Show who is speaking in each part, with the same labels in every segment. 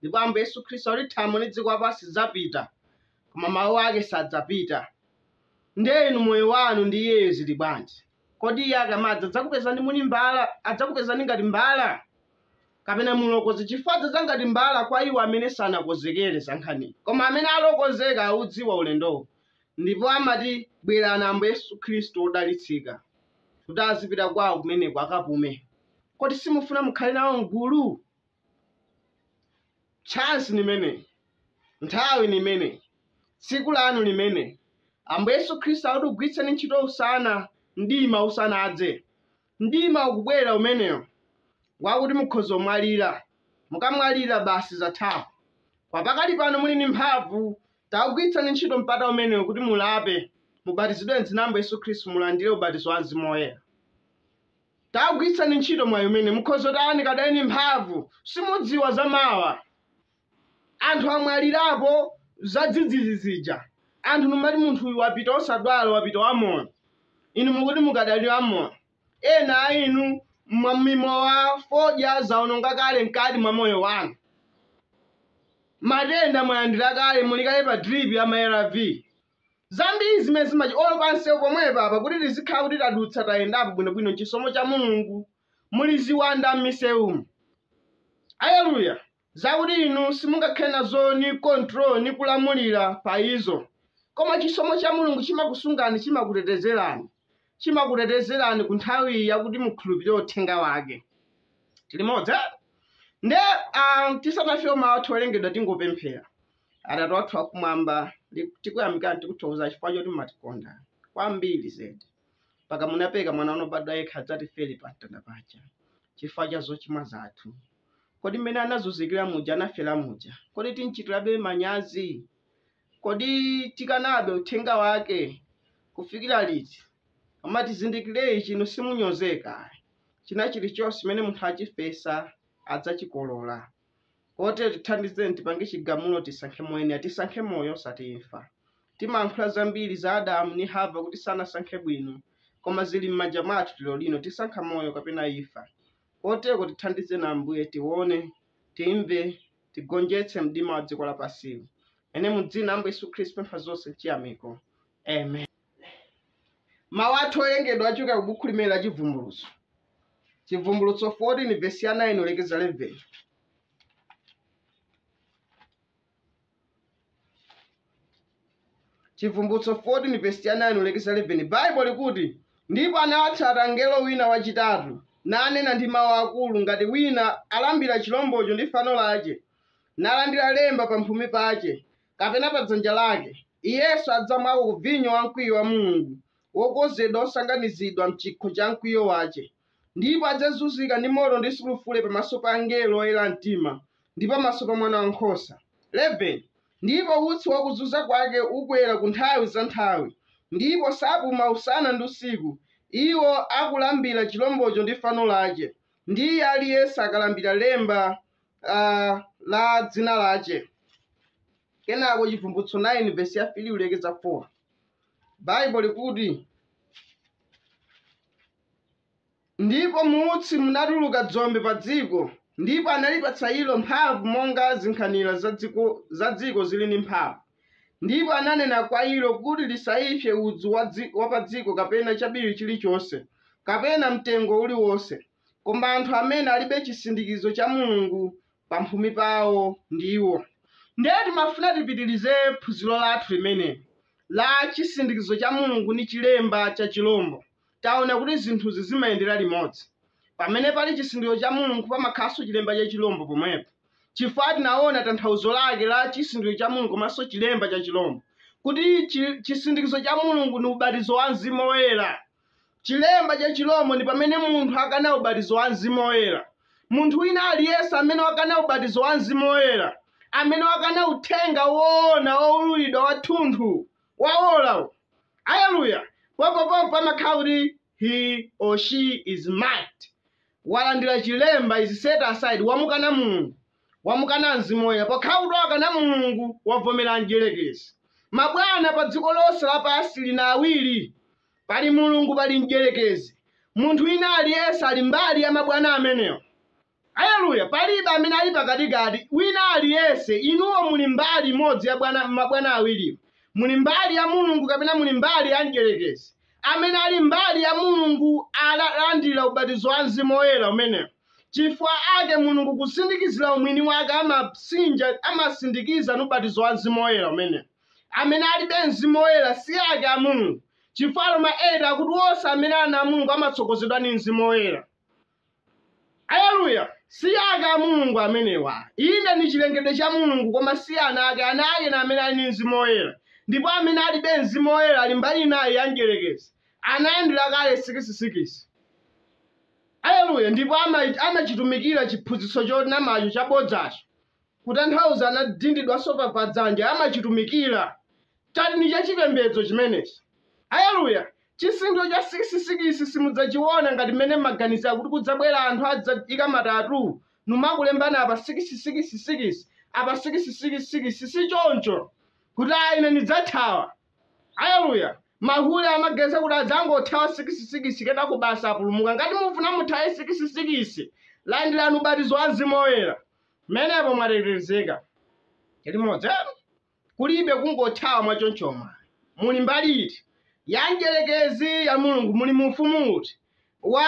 Speaker 1: ndipo ambuye yesu khristu ati thambo ndi dziko lapansi zidzapita koma mawu ake sadzapita ndiye inu moyo wanu ndi iyeyo zili bwanji kodi iye akamadza adzakupezani muli mbala adzakupezani ngati mbala kapena mulokonzeka chifukwa adzadza ngati mbala kwa iwo amene sanakonzekere za nkhaniyi koma amene alokonzeka audziwa ulendowo ndipo amati bwerani ambuye yesu khristu odalitsika kuti azipita kwawo kumeneko akapume kodi simufuna mukhale nawo mgulu chance limene nthawi nimene tsiku lanu limene ambuye yesu khristu akuti gwiritsani ntchito usana mdima usanadze mdima ukubwera umenewo wakuti mukhoza kumwalira mukamwalira basi zathapo kwa pakali pano muli ndi mphamvu tagwiritsani ntchito mpata umenewo kuti mulape mubatizidwe mdzina la ambuye yesu khristu mulandire ubatizo wa mzimu woyera Tagwitsani ntchito mwayi umene mukhoza kutani mukadali ndi mphamvu simudziwa za mawa anthu amwalirapo za dzidzidzi zija anthu numati munthu uyu wapita osadwala wapita wamoyo inu mukuti mukadali wamoyo ena a inu mwamwa mimowa fodya zaononga kale mkati mwa moyo wanu matenda mwalandira kale muli kale pa drip ya ma arv zambiri zimene zimachi olo pansewu pomwepa apa kuti tizikhala kuti tadutsa tayendapo bwinobwino n'chisomo cha mulungu muli ziwanda m'misewumu aleluya zakuti inu simungakhale nazo ni control ni kulamulira pa izo koma chisomo cha mulungu chimakusungani chimakutetezerani chimakutetezerani ku nthawi yakuti mukhulupirire uthenga wake tili limodzi eh? nde ah, tisanafike mawu athu owerengedwa tingopemphera atate wathu wakumwamba ndi- tikuyamikani tikuthokoza chifukwa choti mumatikonda kwambiri zedi mpaka munapereka mwana wanu wobadwa yekha adzatifere pa mtanda paja chifukwa cha zochimwa zathu kodi mmene anazunzikira muja anafera muja kodi tinchitirabe manyazi kodi tikanabe uthenga wake kufikira liti koma tizindikire ichi inu simunyozeka china chilichonse chimene munthu achifesa adzachikolola Koterko tithandizeni tipange chigamulo tisankhe moyenera. Tisankhe moyo osati imfa. Timalankhula zambiri za Adamu ndi Hava kuti sanasankhe bwino koma zili mmanja mwathu lero lino tisankha moyo kapena imfa. Koterko tithandizeni Ambuye tione, timve, tigonjetse mdima wa dziko lapansiwu. Ine mu dzina la Ambuye Yesu Khristu pempha zonse mchiyamiko. Amen. Mau athu owerengedwa achokera ku bukhu limenelo la Chivumbulutso. chivumbulutso 14 vesi ya 9 kulekeza 11 chivumbulutso 14 vesi ya 9 kulekeza 11 baibo likuti ndipo anawatsata mngelo wina wachitatu nanena ndi mawu akulu ngati wina alambira chilombocho ndi fano lace nalandira lemba pamphumi pace kapena pa dzanja lace iyenso adzamwako ku vinyo wamkwiyo wa mulungu wokonzedwa osanganizidwa m'chikho cha mkwiyo wace, ndipo adzazunzika ndi moto ndi sulufure pamaso pa angelo oyera mtima, ndi pamaso pa Mwana wankhosa. 11 ndipo utsi wa kuzunza kwake ukwera ku nthawi za nthawi, ndipo sapuma usana ndi usiku, iwo akulambira chilombocho ndi fano lace, ndi iye ali yense akalambira lemba uh, la dzina lace. Kenako Chivumbulutso 9 vesi ya 3 kulekeza 4. baibo likuti ndipo mu utsi munatuluka dzombe pa dziko ndipo analipatsa ilo mphamvu monga zinkhanira za dziko- za dziko zili ndi mphamvu ndipo ananena kwa ilo kuti lisaipse udzu wa dzi- wa pa dziko kapena chabiri chilichonse kapena mtengo uliwonse koma anthu amene alibe chisindikizo cha mulungu pamphumi pawo ndiwo. Ndiye timafuna tipitilize phunzilo lathu limene la Cisindikizo ca Mulungu ndi Cilemba ca Cilombo. Taona kuti zinthuzi zimayendela limodzi. Pamene pali cisindikizo ca Mulungu pamakhalanso cilemba ca cilombo pomwepo. Cifukwa tinaona tanthauzo lake la cisindikizo ca Mulungu komanso cilemba ca cilombo, kuti ci- cisindikizo ca Mulungu ni ubatizo wa mzimu woyela, Chilemba cha Chilombo ndi pamene munthu akana ubatizo wa Mzimu Woyera. Munthu wina aliyense amene wakana ubatizo wa Mzimu Woyera, amene wakana uthenga woona woululidwa wathunthu wa ora, aleluya, pompopompo pamakhala kuti he or she is marked, walandira chilemba, is set aside, wamukana Mulungu, wamukana Mzimu Woyera. Pokhala kuti wakana Mulungu, wavomera mdyerekezi. Mabwana pa dziko lonse lapansi lina awiri, pali mulungu pali mdyerekezi munthu wina aliyense ali mbali ya mabwana amenewa aleluya palibe amene ali pakatikati wina aliyense inuwo muli mbali imodzi ya bwana- mabwana awiriwa muli mbali ya mulungu kapena muli mbali ya mdyerekezi amene ali mbali ya mulungu alandira ubatizo wa mzimu woyera umenewo chifukwa ake mulungu kusindikizira umwini wake amatsinja amasindikiza ni ubatizo wa mzimu woyera umenewo amene alibe mzimu woyera si ake a Mulungu, chifukwa Aroma 8 akuti onse amene ali ana a Mulungu amatsogozedwa ndi mzimu woyera. Aleluya! Si ake a Mulungu amenewa. Inde ndi chilengedwe cha Mulungu koma si ana ake. Ana ake ni amene ali ndi mzimu woyera. Ndipo amene alibe mzimu woyera ali mbali inayi ya mdyerekezi. Analandira kale sikisisikisi. Aleluya! Ndipo ama- amachitumikira chiphunzitso chonamacho chabodzacho. kutanthauza anadindidwanso pa, pa dzanja, amachitumikira. Chati ni chachipembedzo chimenechi. Aleluya! Chizindikiro cha sikisi-sikisi simudzachiwona ngati mmene mmaganizira kuti kudzabwera anthu adzaika ma tattoo numakulembani apa sikisi-sikisi-sikisi, apa sikisi-sikisi-sikisi, si choncho! Kuti, ayi, ine ndidzathawa. Aleluya! Mahule amaganiza kuti adzangothawa sikisi-sikisi kenako basi apulumuka. Ngati mufuna muthawe sikisi-sikisi, landirani ubatizo wa Mzimu Woyera. Pamenepo mwatetezeka limodzi kulibe kungothawa mwa chonchomwa muli mbali iti ya mdyerekezi ya Mulungu muli mu ufumu uti wa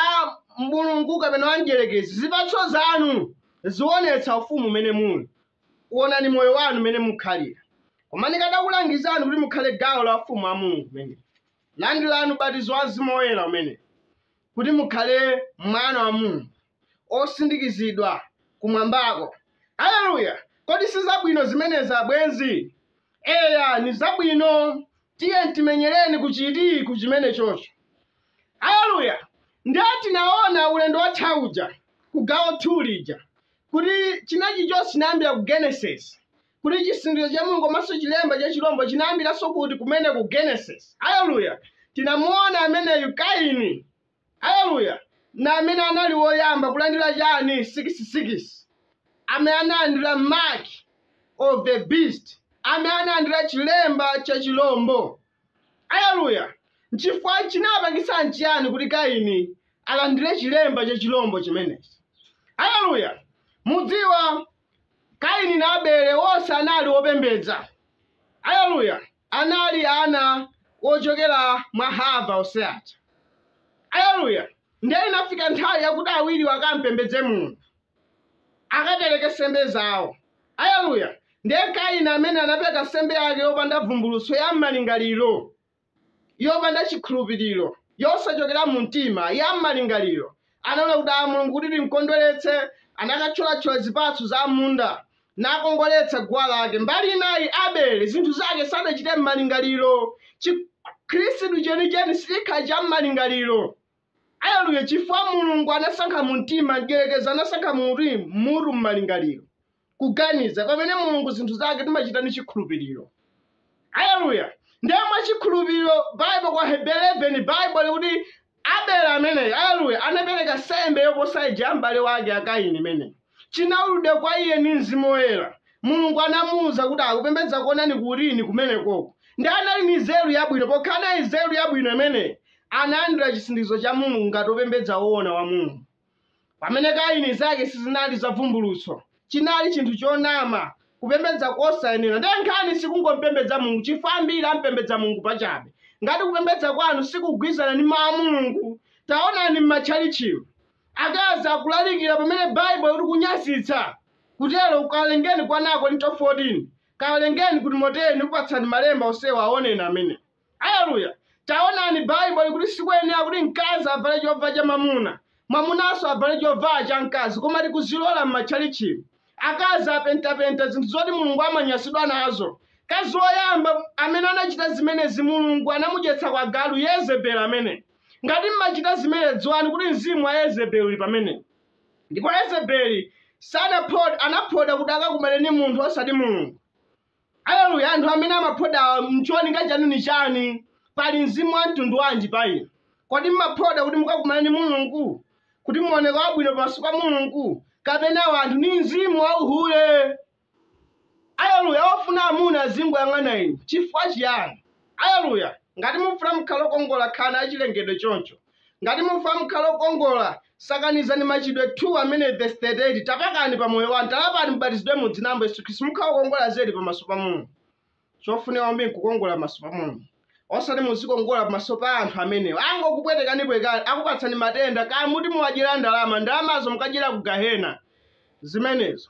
Speaker 1: Mulungu kapena wa mdyerekezi zipatso zanu zionetsa ufumu umene muli uonani moyo wanu umene mukhalira koma ndikadakulangizani kuti mukhale gawo la ufumu wa Mulungu umene landilani ubatizo wa mzimu woyera umene kuti mukhale mwana wa Mulungu osindikizidwa kumwambako. Aleluya! Kodi si zabwino zimenezi abwenzi? Eya, ni zabwino. Tiye timenyereni kuchiti ku chimenechocho. Aleluya! Ndiye tinaona ulendo watha uja ku gawo 2 lija kuti china chilichonse chinayambira ku Genesis kuti chisindikizo cha Mulungu komanso chilemba cha chilombo chinayambiranso kuti kumene ku Genesis. Aleluya! Tinamuona ameneyu Kaini Aleluya! Ndi amene anali woyamba kulandira chani sikisi-sikisi, amene analandira mark of the beast, amene analandira chilemba cha chirombo. Aleluya! Nchifukwa, chinapangitsa nchiyani kuti Kaini alandire chilemba cha chirombo chimenechi? Aleluya! Mudziwa, Kaini na Abele onse anali opembedza. Aleluya! Anali ana ocokela mwa Hava onse awa. Aleluya! Ndiye inafika nthawi yakuti awiliwo akam'pembedze Mulungu, akapeleke nsembe zawo. Aleluya! Ndiye Kaini ameneyu anapeleka nsembe yake yopanda vumbulutso ya m'malingalilo. yopanda chikhulupiriro, yosachokera mu mtima, ya mmalingaliro, anaona kuti a, Mulungu kuti timkondweretse, anakatcholatchola zipatso za mmunda, nakongoletsa guwa lake. Mbali inayi, Abele, zinthu zake sadachite mmalingaliro. Chikhristu chenicheni sichikhala cha mmalingaliro. Aleluya! Chifukwa Mulungu anasankha mu mtima, mdyerekezi anasankha kuti, mutu mmalingaliro. kuganiza pamene mulungu zinthu zake timachita ndi chikhulupiriro aleluya ndiye mwa chikhulupiriro baibo kwa hebere 11 baibo likuti abele ameneyi aleluya anapereka sembe yoposa ija ya m'bale wake akaini imeneyi chinaululidwa kwa iye ndi mzimu woyera mulungu anamuwuza kuti akupembedza koona nkuli kumenekoko nde anali ni nzeru yabwino pokhala nayo nzeru yabwino imeneyi analandira chisindikizo cha mulungu ngati opembedza woona wa mulungu Pamene Kaini zake sizinali za vumbulutso, chinali chinthu chonama, kupembedza kosayenera. Ndiye nkhani sikungompembedza Mulungu, chifukwa ambiri ampembedza Mulungu pachabe. Ngati kupembedza kwanu sikugwirizana ndi mawu a Mulungu, taonani m'matchalitchimu. Akazi akulalikira pamene Baibulo likuti nkunyazitsa kutero kawerengeni kwa 1 Akorinto 14. Kawerengeni ku Timoteyo ndikupatsani malemba onsewa awoneni amene. Aleluya! Taonani, Baibo likuti sikuyenera kuti mkazi avale chovala cha mwamuna, mwamunanso avale chovala cha mkazi, koma tikuzilola m'matchalitchimu. Akazi apentapenta zinthu zoti Mulungu amanyasidwa nazo. Mkazi woyamba amene anachita zimenezi Mulungu anamudyetsa kwa galu, Yezebeli ameneyi. Ngati mumachita zimenezi dziwani kuti mzimu wa Yezebeli uli pamenepo. Ndipo Yezebeli sanaphoda, anaphoda kuti akakumane ndi munthu osati Mulungu. Aleluya! Anthu amene amaphoda cholinga chanu ni chani? Pali mzimu wa mtundu wanji pa inu? Kodi mumaphoda kuti mukakumane ni Mulungu? Kuti muoneke wabwino pamaso pa Mulungu? Kapena anthu? Ni mzimu wa uhule? Aleluya! Wofuna amuna azingoyang'ana inu. Chifukwa chiyani? Aleluya! Ngati mufuna mukhale okongola, khalani achilengedwe choncho. Ngati mufuna mukhale okongola, sakanizani Machitidwe 2 amene vesi 38 tapakani pa moyo wanu, talapani mubatizidwe mu dzina la Ambuye Yesu Khristu, mukhala okongola zedi pamaso pa Mulungu. Chofunika kwambiri nkukongola pamaso pa Mulungu. Osati muzikongola pamaso pa anthu amenewo. Angokupwetekanipwetekani, akupatsani matenda, kaya muti muwadyera ndalama, ndalamazo mukadyera ku gahena. Zimenezo.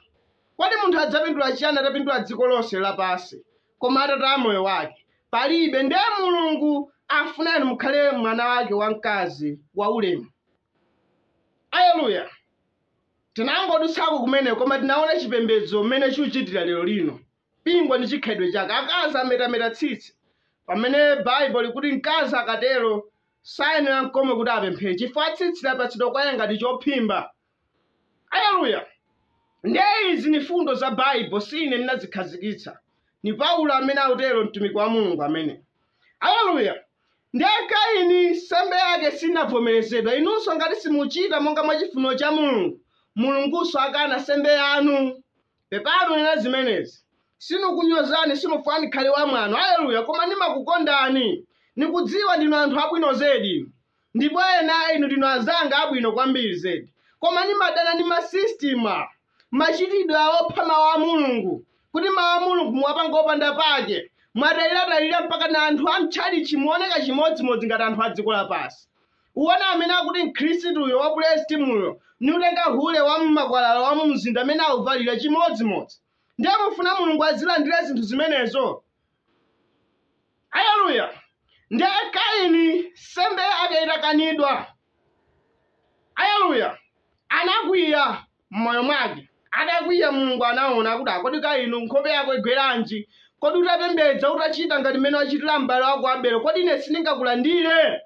Speaker 1: Kodi munthu adzapindula chiyani atapindula dziko lonse lapansi, koma atataya moyo wake palibe nde mulungu afunani mukhale mwana wake wamkazi wa ulemu aleluya tinangodutsako kumene koma tinaona chipembedzo mmene chikuchitira lero lino pingwa ndi chikhalidwe chake akazi ametameta tsitsi pamene baibulo likuti mkazi akatero sayenera n'komwe kuti apemphere chifukwa tsitsi lapatsidwa kwa iye ngati chophimba Aleluya! Nde izi ni fundo za Baibo, si ine ndinazikhazikitsa. Ni Paulo amene akutero, mtumiki wa Mulungu amene. Aleluya! Nde Kaini nsembe yake sinavomerezedwa. Inunso ngati simuchita monga mwa chifuniro cha Mulungu, Mulungunso akana nsembe yanu. Pepani kunena zimenezi. Sinikunyozani, sinufuna nikhale wamwano. Aleluya! Koma nimakukondani. Nikudziwa ndinu anthu abwino zedi. Ndipo ena inu ndinu anzanga abwino kwambiri zedi, koma ndimadana ndi masistimu, machitidwe opha Mawu a Mulungu, kuti Mawu a Mulungu muwapanga opanda pake, mwadaliradalira mpakana anthu a mtchalitchi mooneka chimodzimodzi ngati anthu a dziko lapansi. Uwona amene akuti Mkhristuyo wa pulesitimuyo, niutenga hule wa mmakwalala wa mumzinda amene awuvalira chimodzimodzi. Ndiye mufuna Mulungu azilandira zinthu zimenezo? Aleluya! Ndiye Kaini, nsembe yake itakanidwa, aleluya, anakwiya m'moyo mwake. Atakwiya, Mulungu anaona kuti, "Ah, kodi Kaini nkhope yako igweranji? Kodi utapembedza, utachita ngati mmene wachitira m'bale wako Abele, kodi ine sindingakulandire?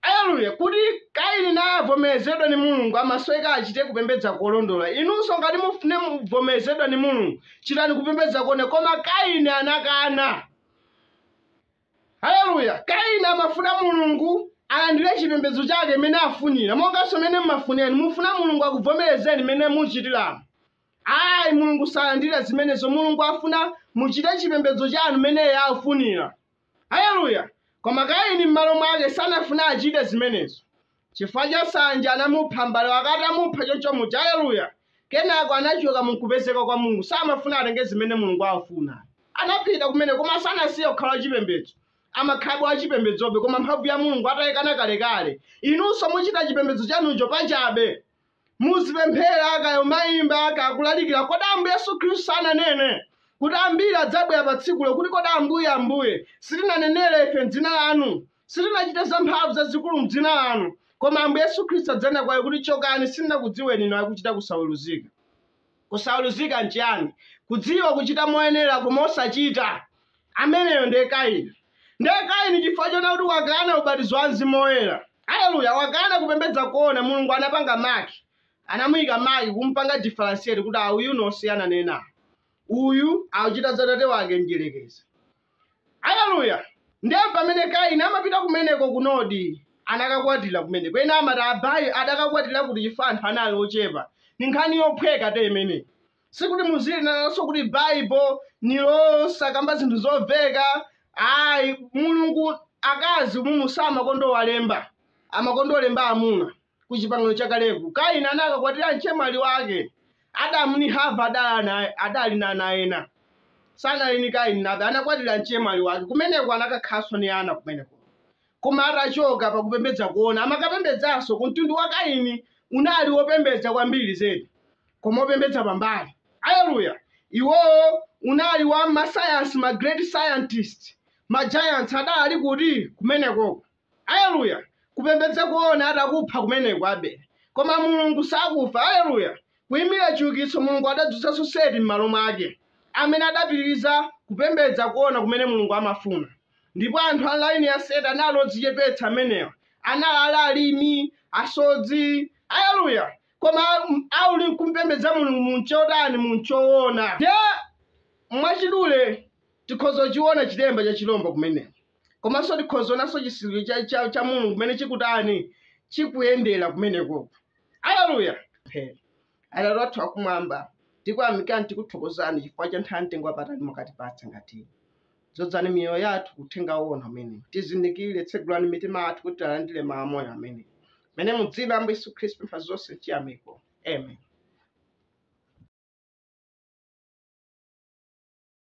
Speaker 1: Aleluya! Kuti Kaini naye avomerezedwe ni Mulungu, amasoweka achite kupembedza kolondola. Inunso ngati mufune muvomerezedwa ni Mulungu, chitani kupembedza kone. Koma Kaini anakana. Aleluya! Kaini amafuna Mulungu alandire chipembedzo chake mene afunira, monganso mene mumafunira inu. Mufuna Mulungu akuvomerezeni mene muchitiramu? Ayi, Mulungu salandira zimenezo. Mulungu afuna muchite chipembedzo chanu mene Iye afunira. Aleluya! Koma Kaini mmalo mwake sanafune achite zimenezo. Chifukwa cha sanje anamupha m'bale wake atamupha choncho muja. Aleluya! Kenako anachoka mu kupezeka kwa Mulungu. Samafuna atenge zimene Mulungu afuna. Anapita kumene koma sanasiye kukhala wachipembedzo. Amakhalabe wachipembedzobe koma mphamvu ya Mulungu ataikana kalekale. Inunso muchita chipembedzo chanucho pachabe. Muzipemphera, kaya umayimba, kaya kulalikira, kodi Ambuye Yesu Khristu sananene kuti ambiri adzabwera pa tsikulo kuti kodi Ambuye, Ambuye, sitinanenere ife m'dzina lanu, sitinachite zamphamvu zazikulu m'dzina lanu? Koma Ambuye Yesu Khristu adzanena kwa iwo kuti chokani, sindinakudziweni inu akuchita kusaweruzika. Kusaweruzika nchiyani? Kudziwa kuchita moyenera koma osachita. Ameneyo ndiye Kaini. Ndiye Kaini chifukwa chona kuti wakana ubatizo wa Mzimu Woyera. Haleluya, wakana kupembedza koona. Mulungu anapanga maki. Anamuyika maki kumupanga differentiate kuti a uyu ni osiyana ni ena. Uyu akuchita za tate wake mdyerekezi. Aleluya! Ndiye pamene Kaini amapita kumeneko ku Nodi, anakakwatira kumeneko. Ena amati ah, ayi adakakwatira kuti chifukwa anthu anali ochepa. Ni nkhani yophweka te imene. Sikuti muzilinananso kuti Baibo ni losakamba zinthu zomveka. Ayi, Mulungu akazi Mulungu samakonda kuwalemba, amakonda kulemba amuna. ku chipangano chakaleku kaini anakakwatira mchemwali wake adamu ni hava adali na ana ena sanali ni kaini ni abele anakwatira mchemwali wake kumeneko anakakhalanso ni ana kumeneko koma atachoka pakupembedza koona amakapembedzanso ku mtundu wa kaini unali wopembedza kwambiri zedi koma wopembedza pambali aleluya iwowo unali wa masayansi ma great scientist ma giants adali kuti kumenekoko Aleluya! Kupembedza koona atakupha kumeneko Abele. Koma Mulungu sakufa. Aleluya! Kuimira chiukitso Mulungu adadzutsanso Seti m'malo mwake, amene adapitiriza kupembedza koona kumene Mulungu amafuna. Ndipo anthu a m'laini ya Seti anali odzichepetsa amenewa. Anali ali alimi, asodzi. Aleluya! Koma m- anali nkumpembedza Mulungu mu nchotani mu nchoona. Ndiye mwachidule tikhoza kuchiona chilemba cha chilombo kumeneko. komanso tikhoza onanso chisindikizo cha, cha, cha mulungu kumene chikutani chikuyendera kumenekoko aleluya He. atate wathu akumwamba tikuyamikani tikuthokozani chifukwa cha nthawi yamtengo wapatali mwatipatsa ngati iyi. dzozani miyoyo yathu ku uthenga woona umene tizindikire tsegulani mitima yathu kuti tilandire mawu amoyo amene mene mudzina la ambuye yesu khristu m'pazonse chiyamiko amen